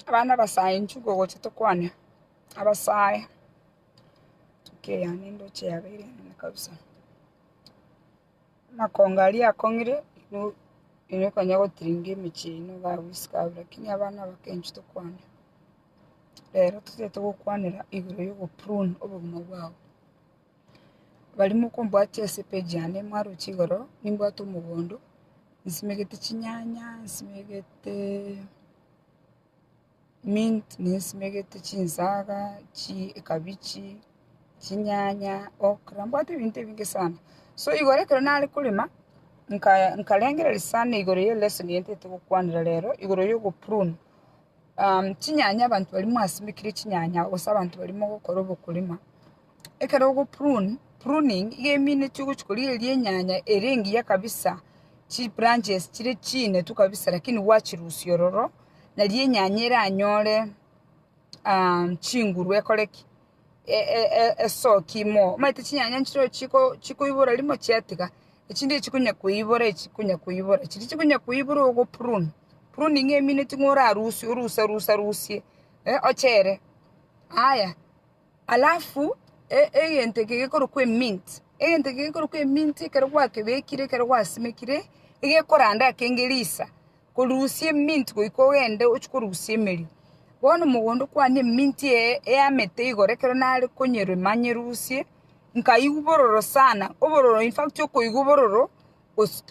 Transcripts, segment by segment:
Abana abasaenchu ngogocha tokwane abasae ntuke yane ndoche yabere nene kabisa. Amakongo aria akong'ire no ere konya gotiringa emechie eye nigo agoisiko abwo lakini abana abakenchu tokwane. Rero totete gokwanera igoro yogo prune obogima bwabo. Baria mokombwatia ase page yane mwaroche igoro, nimbwate omogondo, nsimegete chinyanya, nsimegete mint, nsimegete chinsaga, chi- ekabichi, chinyanya, okra, mbwate ebinto ebinge sana. So igoro ekero nare korema, nka- nkarengereria sana igoro ya elesson eye ntagete gokwanera rero, igoro ya ogoprune chinyanya abanto baria mwasimekire chinyanya gose abanto baria mogokora obokorema, Ekero ogo prune, pruning, iga eminetwe gochia korigereria enyanya ere engiya kabisa, chi branches chire chinetwe kabisa lakini gwachirusia ororo, nari enyanya eranyore chinguru ekore ki? esoki mo. Omanyete chinyanya nchire ore chiko chikoibora rimo chiatiga, echi ndire chikonya koibora echi chikonya koibora. Chiria chikonya koibora igo oprune, pruning ng'a eminetwe ng'a orarusie, oruse ruse rusie, eh ochere. Aya, Alafu egento eke gekorokwa emint, egento eke gekorokwa emint ekero gwakebekire ekero gwasimekire, egekoranda ake ngerisa, korusia emint goika ogende ochie korusia emeria. Bono mogondo kwane emint eye eamete igoro ekero nare konyerema nyerusie, nkaigwa bororo sana, obororo in fact okoigwa obororo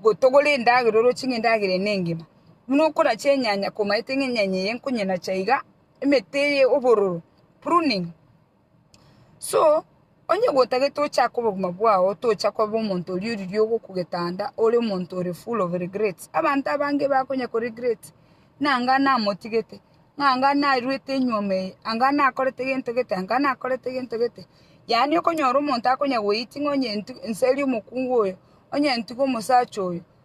gotogora endagera oroche ng'a endagera eye nengima. Buna okorache enyanya komaete ng'a enyanya eye nkonyenacha iga. emete eye obororo, pruning. So, onye gotagete ochake obogima bwao otocha koba omonto oria oriria ogokugeta anda ore omonto ore full of regrets. Abanto abange bakonya ko regret ng'a anga namotigete, ng'a anga narwete enyuoma eye, anga nakorete gento gete, anga nakorete gento gete. Yaani okonyora omonto akonya goiting' onye nti- nserie omokungu oyo, onye ntige omosacha oyo,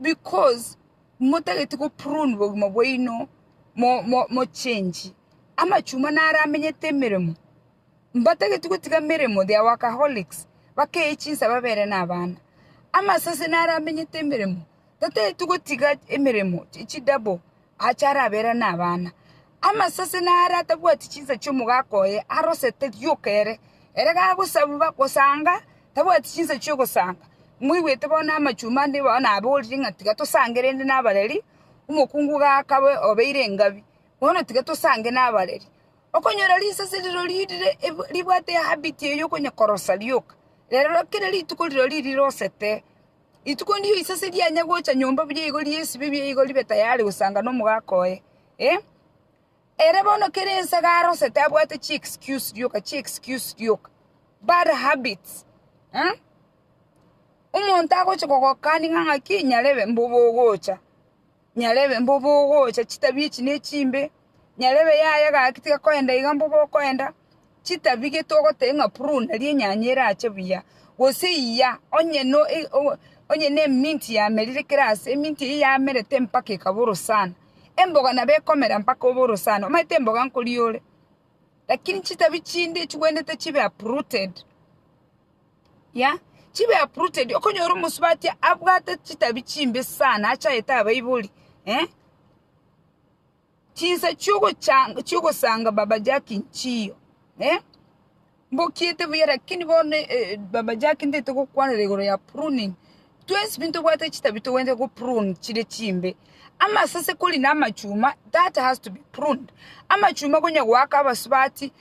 Because motageti go prune bogima bwaino, mo change amachuma naro amenyete emeremo. Mbatageti gotiga emeremo, they are workaholics, bakeye chinsa babere nabana. Amasase naro amenyete emeremo, tatageti gotiga emeremo, chi double, achare abere nabana. Amasase nare atabwati chinsa chi'omogaka oye arosete rioka ere, ere gagosabwa gosanga tabwati chinsa chi'ogosanga. Moigwete bono amachumba ande igo naborire ng'a tiga tosange rende nabareri, omokungu gakabe obeire engabi, bono tiga tosange nabareri. Okonyora risase rirori rire ribwate ehabit eye okonya korosa rioka, rero kera rituko rirori rirosete. Rituko ndiyo risase rianya gocha nyomba buya igori ri'esibe biaye igo ribe tayari gosanga nomogaka oye. Ee, ere bono kera ensaga arosete abwate chi excuse rioka, chi excuse rioka. Bad habits eh? Omonto agocha kogokania ng'a ng'aki nyarebe mbobe ogocha. Nyarebe mbo bogocha chitabia echi ne chimbe, nyarebe yaya gaki tiga koenda iga mbo bokoenda, chitabia gete ogoteba ng'a prune nario enyanya erache buya, gose iya, onye no onye ne mint yamerire kera ase, emint eyio yamerete mpaka ekaba orosana. Emboga nabo ekomera mpaka obe orosana, omanyete emboga nkoria ore. Lakini chitabia chinde chigwenerete chibe uprooted. Yea, chibe uprooted, okonyora omosubati abwate chitabi chimbe sana achaete abaibori, eh? Chinsa chiogochanga chiogosanga Baba Jack nchiyo, eh? Mbokiete buya lakini bono eh, eh, Baba Jack ndete gokwanera igoro ya pruning. Twensi pi ntobwate chitabi togwenerete go prune chire chimbe. Amasase kori na amachuma, that has to be pruned. Amachuma konya goaka abasubati,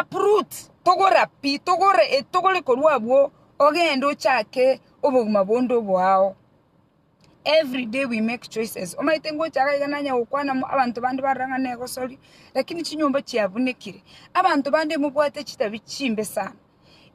Uproot, togora pi, togora etogore korwa abwo ogende ochake obogima bonde oboao. Every day we make choices, omanyete ngocha iga iga nanye gokwana mo abanto bande barora ng'a negosoria, lakini chinyomba chiabunekire, abanto bande mobwate chitabi chimbe sana.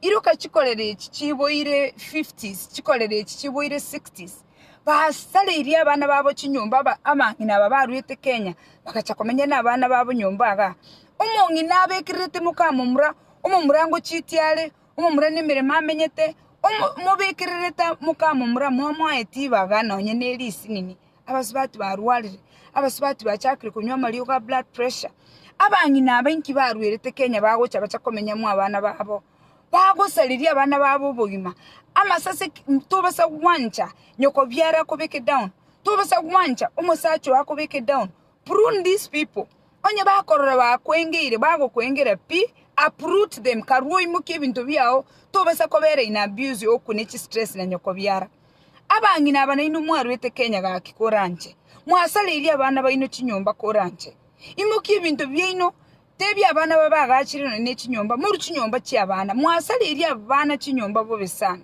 Iroka chikorera echi chiboire fifties, chikorera echi chiboire sixties. Basareirie abana babo chinyomba aba abang'ina aba baruete Kenya, bagacha komenya na abana babo nyomba igaa. Omong'ina abekererete mokamomura, omomura ngochitia are, omomura nemeremo amenyete, omo mobekererete mokamomura momoaeti ibaga nonye ne risinini. abasubati barwarire, abasubati bachakire konywa amariogo a blood pressure, abang'ina aba inki barwerete Kenya bagocha bacha komenyamwa abana babo, bagosareria abana babo obogima, amasase ki- m- tobasa gwancha nyokobiara akobeke down, tobasa gwancha omosacha ogo akobeke down, prune these people, onye bakorora bakwengeire bagokwengera pi, uproot them, karwa oimokie ebinto biago, tobasa kobera in abuse okwe ne chistress na nyokobiara. Abang'ina aba nainwe mwarwete Kenya gaki koranche, mwasareirie abana baino chinyomba koranche. Imokia ebinto biaino, tebia abana babe agachire nonye ne chinyomba, moru chinyomba chi'abana, mwasareirie abana chinyomba bobe sana.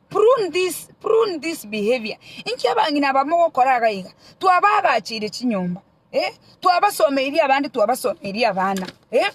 Prune this, prune this behavior. Inki abang'ina aba mogokora iga iga? Twabaagacheire chinyomba. Eh, twabasomeirie abande twabasomeirie abana. Eh,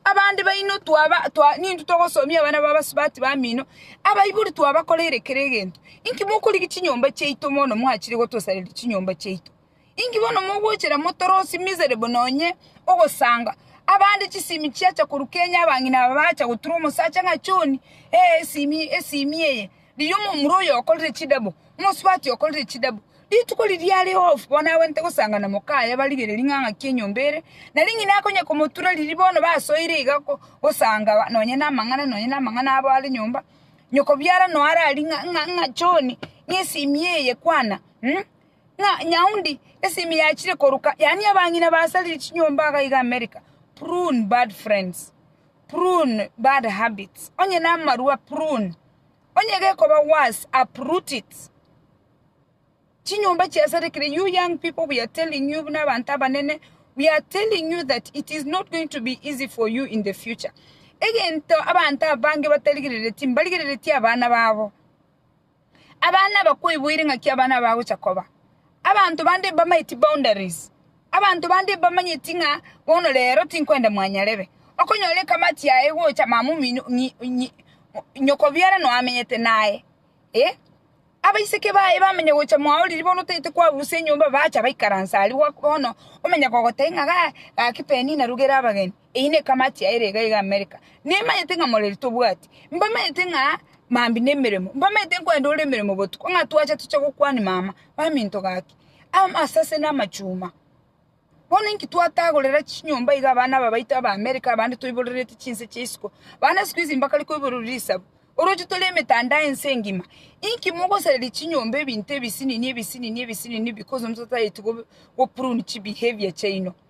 abande baino twaba twa nintu togosomia abana babasubati bamino abaibori twabakoreire kere egento inki mokorigi chinyomba chiaito mono mwachire gotosareria chinyomba chiaito inki bono mogochera motorosi miserable nonye ogosanga abande chisimi chiacha korwa Kenya abang'ina aba bacha gotura omosacha ng'a John eh esimi esimi eye Riria omomura oyo okorire chidabo, omosubati okorire chidabo, rituko riria are off bono agwenerete gosanga na mokaye abarigererie ng'a ng'aki enyomba ere, na ring'ina akonya komotura riria bono basoire iga gosanga nonye namang'ana nonye namang'ana abo are nyomba, nyokobiara noe ararie ng'a ng'a ng'a John, ng'a esimi eye kwana ng'a Nyaunde esimi yachire koruka, yaani abang'ina basarire chinyomba iga iga America, prune bad friends. Prune bad habits, onye namarwa prune, onye gekoba worse uproot it. Chinyomba chiasarekire, you young people we are telling you buna abanto abanene, we are telling you that it is not going to be easy for you in the future. Egento abanto abange batarigereretie, mbarigereretie abana babo. Abana bakwoiboire ng'aki abana bagocha koba. Abanto bande mbamaeti boundaries. Abanto bande mbamanyeti ng'a bono rero tinkwenda mwanyarebe. Okonyora ekamati yaye gocha mama omino ng'i ng'i nyokobiara noamenyete naye. Eh abaiseke baye bamanya gocha mwaoriri bono otaete kwabusia enyomba bacha baikaransa aria gwa bono omanya kogotebia ng'a ga gaki Penina rugera abageni. Eyio ne kamachi yaire iga iga Amerika. Nimanyete ng'a moreri tobwati. Mbamanyete ng'a mambi nemeremo. Mbamanyete nkwende ore emeremo botuko. Ng'a twacha toche gokwani mama. Baminto gaki. Amase ase namachuma. Bono inki twatagorera chinyomba iga abana aba baito aba Amerika abande toiborerete chinse chia isiko. Bande isiko izi mbakare koiborerwa risabu. Oroche tore emetandao ense engima. Inki mogosareria chinyomba ebinto ebisinini ebisinini ebisinini because ntotaeti go prune chibehavior chiaino.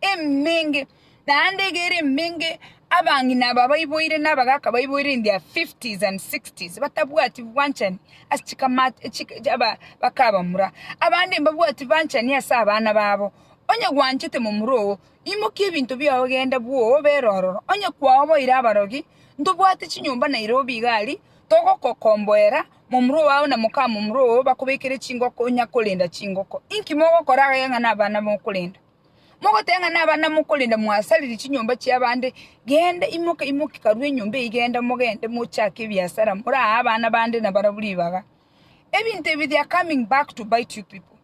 emenge, naende egere emenge abang'ina aba baiboire na abagaaka baiboire in their fifties and sixties batabwati bwanchani ase chikamati chika aba bakabamura. Abande mbabwati bwanchani ase abana babo. Onye gwanchete momura ogo, imokia ebinto biao genda bwoo obere ororo. Onye kwaoboire abarogi, ntobwate chinyomba Nairobi iga aria, togokokomboera, momura oao na mokamomura oo bakobekere chingoko onya korenda chingoko. Inki mogokora agaiga ng'a nabana mokorenda? Mogoteng'ane abanamwa korende mwasariri chinyomba chi'abande, genda, imoka, imoka, karue enyomba eyi, genda, mogende, mochake ebiasara, morahe abana bande nabarabwo ribaga. Ebinto ebi they are coming back to bite you people.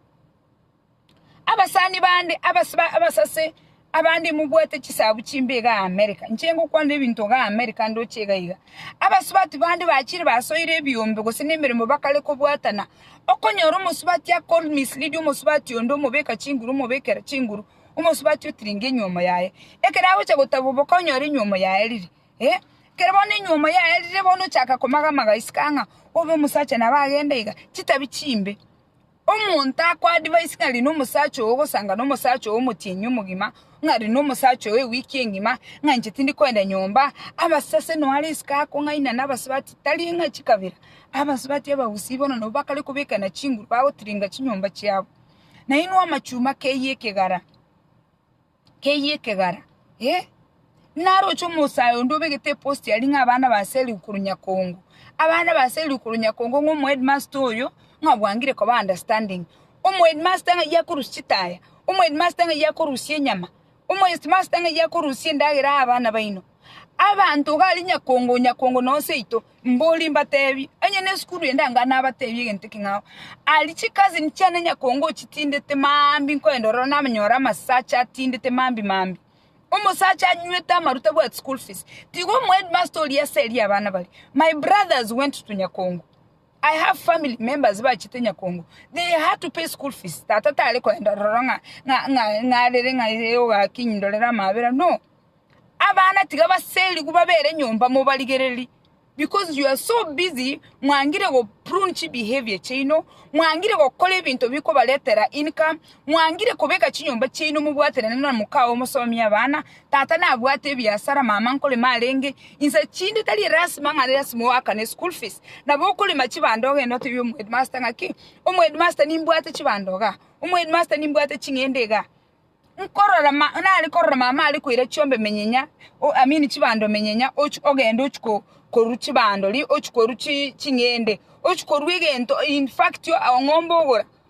Abasani bande, abas- ba- abasase abande mobwate chisabu chimbe iga America, inche ngokwanera ebinto iga America ndoche iga iga. Abasubati bande bachire basoire ebiombe gose nemeremo bakare kobwatana, Okonyora omosubati akorwa mislead omosubati onde omobeka chinguru omobekera chinguru omosubati otiringe enyuomo yaye ekero agocha gotabwa boka onyore enyuomo yaye riri eh ekero bono enyuomo yaye rire bono ochaka komagamaga isiko ang'a obe omosacha nabo agende iga chitabi chimbe omonto ako advise ng'a riria omosacha oo ogosanga nomosacha oo omotienyi omogima ng'a ari nomosacha oo ewiki engima, ng'a inche tindi koenda nyomba, abasase noo are isiko akong'aina nabasubati, tari ng'a chikabera, abasubati abagusii bono nabwo bakare kobekana chinguru bagotiringa chinyomba chiabo. Na inwe amachuma keyie ekegara, keyie ekegara, eh. Naroche omosae onde obegete eposti aria ng'a abana ba Sally korwa Nyakongo, abana ba Sally korwa Nyakongo ng'a omoheadmaster oyo ng'a bwangire koba understanding. Omoheadmaster ng'ai akorusia chitaya? Omoheadmaster ng'ai akorusia enyama? Omoheadmaster ng'ai akorusia endagera aa abana baino? Abanto iga aria nyakongo o nyakongo na o seito, mborie mbateebie, onye nesukuru ende anga nabateebie egento eke ng'ao. Aria chicousin chiane nyakongo ochitindete maambi nkoenda ororo namanyore amasacha atindete maambi maambi. Omosacha anywete amaruta abwate school fees. Tiga omoheadmaster oria ase eria abana baria. My brothers went to nyakongo. I have family members bachete nyakongo they had to pay school fees tata tare koenda roro ng'a ng'a ng'a ng'arere ng'a ee ogakinyi ndorere amabera no abana tiga baserigwe babere nyomba mobarigereri because you are so busy mwangire go prune chi behavior chiaino mwangire gokora ebinto bikobaretera income mwangire kobeka chinyomba chiaino mobwaterane na moka oo mosomie abana Tata nabwate ebiasara, mama nkorema arenge inse chinde tari elasima ng'a lasima oakane school fees. Nabo okorema chibando ogende otebie omoheadmaster ng'a ki, omoheadmaster nimbwate chibando iga, omoheadmaster nimbwate ching'ende iga. Nkorora ma nare korora mama are koira chiombe menyenya, o I mean chibando menyenya ochi ogende ochi ko korwa chibando ri ochi korwa chi ching'ende, ochi korwa egento in fact o ng'ombe ogora.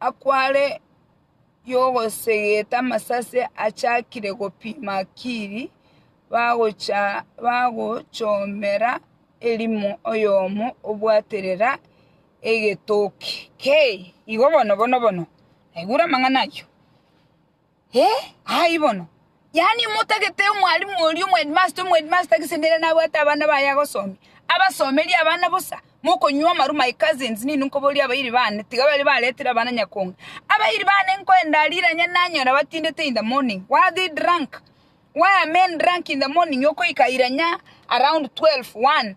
akware y'ogosegeta amasase achakire gopima Kiri, bagochomera erimo oyomo obwaterera egetoki. Kei! Igo bono, bono, bono! Naigure amang'ana ayio. Ee, aye bono. Yaani motagete omwalimu oria, omwedimasta, omwedimasta gese nere nabwate abana baye agosomia, abasomerie abana bosa, mokonywa amaru my cousins, ninwe nkoboria abairi bane, tiga baria baretire abana nyakonge. Abairi bane nkoenda riranya nanyora batindete in the morning, why are they drunk? Why are men drunk in the morning okoika iranya around twelve, one?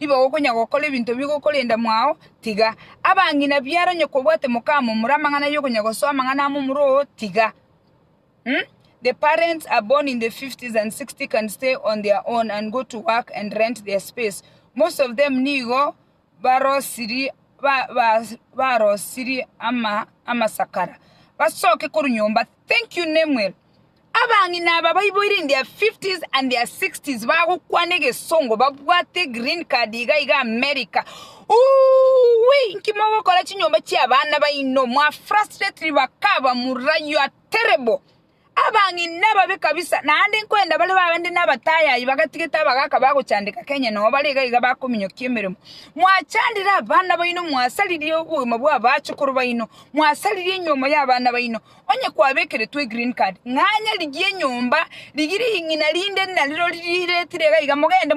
Nigo gokonya gokora ebinto ebi gokorenda mwao, tiga. Abang'ina biare onye kobwate mokamomura amang'ana aye okonya gosoa amang'ana amomura oo, tiga. Uhm? The parents are born in the 50s and 60 can stay on their own and go to work and rent their space. Most of them nigo barosiri ba, ba, barosiri ama, amasakara. Basoke korwa nyomba. Thank you Nemuel. Abang'ina aba baiboire in their fifties and their sixties bagokwana egesongo babwate green card iga iga America Uuwi inki mogokora chinyomba chia abana baino mwa frustrate bakaba mura you are terrible Abang'ina babe kabisa naende nkoenda bare bande na abatayayi bagatigete abagaka bagochandeka Kenya nao bare iga iga bakominyokia emeremo mwachandire abana baino mwasaririe obogima bwa abachukuru baino mwasaririe enyiomo ya abana baino Onye kwabekeretwe egreen card, ng'anya rigie enyomba, rigie ring'ina rinde nariro riretire iga iga, mogende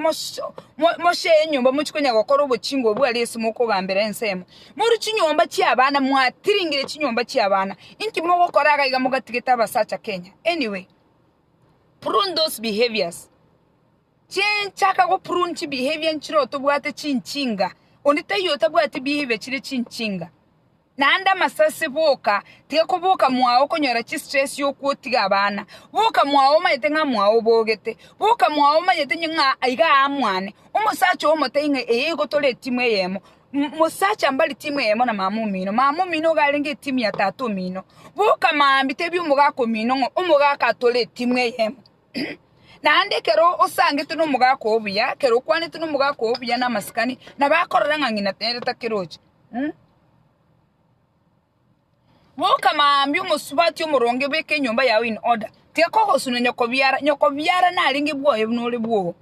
moshee enyomba mochie konya gokora obochinga obwo aria ase mokogambera ensemo. Morue chinyomba chia abana, mwatiringire chinyomba chia abana, inki mogokora iga iga mogatigete abasacha Kenya? Anyway, prune those behaviors. Chinchaka go prune chibehavior nchire otobwate chinchinga, onde taiyo otabwati behavior chire chinchinga. Naende amasasi, boka, tiga koboka mwao konyora chistress y'okwa otige abana. Boka mwao omanyete ng'a mwao obogete. Boka mwao omanyete inye ng'a aiga aa mwane. Omosacha oo omotebie ng'a eye igo tore etimu eyemo. M mosacha mbari timu eyemo na mama omino. Mama omino iga arenge etimu ya tata omino. Boka maambia tebia omogaka omino ng'a omogaka aa tore etimu eyemo. Naende ekero osangete nomogaka oo buya, ekero okwanete nomogaka oo buya na amasikani, nabo akorora ng'a ng'ina nere takeroche. Bwoka mambia omosubati omoronge obeke enyomba yao in order tiga ogosuna nyokobiara nyokobiara narenge bwoye buna ore bwogo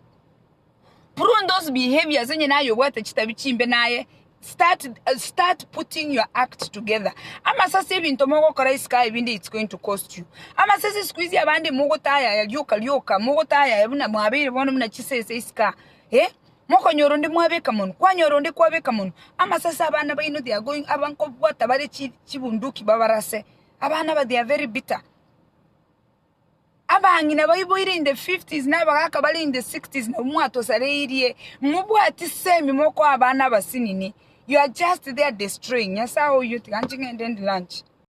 prune those behaviors onye naye obwate chitabia chimbe naye start start putting your act together amase ase ebinto mogokora isiko aye ebinde it's going to cost you amase ase isiko esia abande mogotayaya rioka rioka mogotayaya buna mwabeire bono buna chisese isiko aa eh. Mokonyora onde mwabeka monwe, kwanyora onde kwabeka monwe. Amasasi abana baino they are going aba nkobwata bare chibunduki babarase. Abana aba they are very bitter. Abang'ina baiboire in the fifties na abagaka bare in the sixties nabo mwatosareirie, mobwati semi mokoa abana abasinini, you are just there destroying. Nyasae oyio tiga inche ng'ende ndi lunch.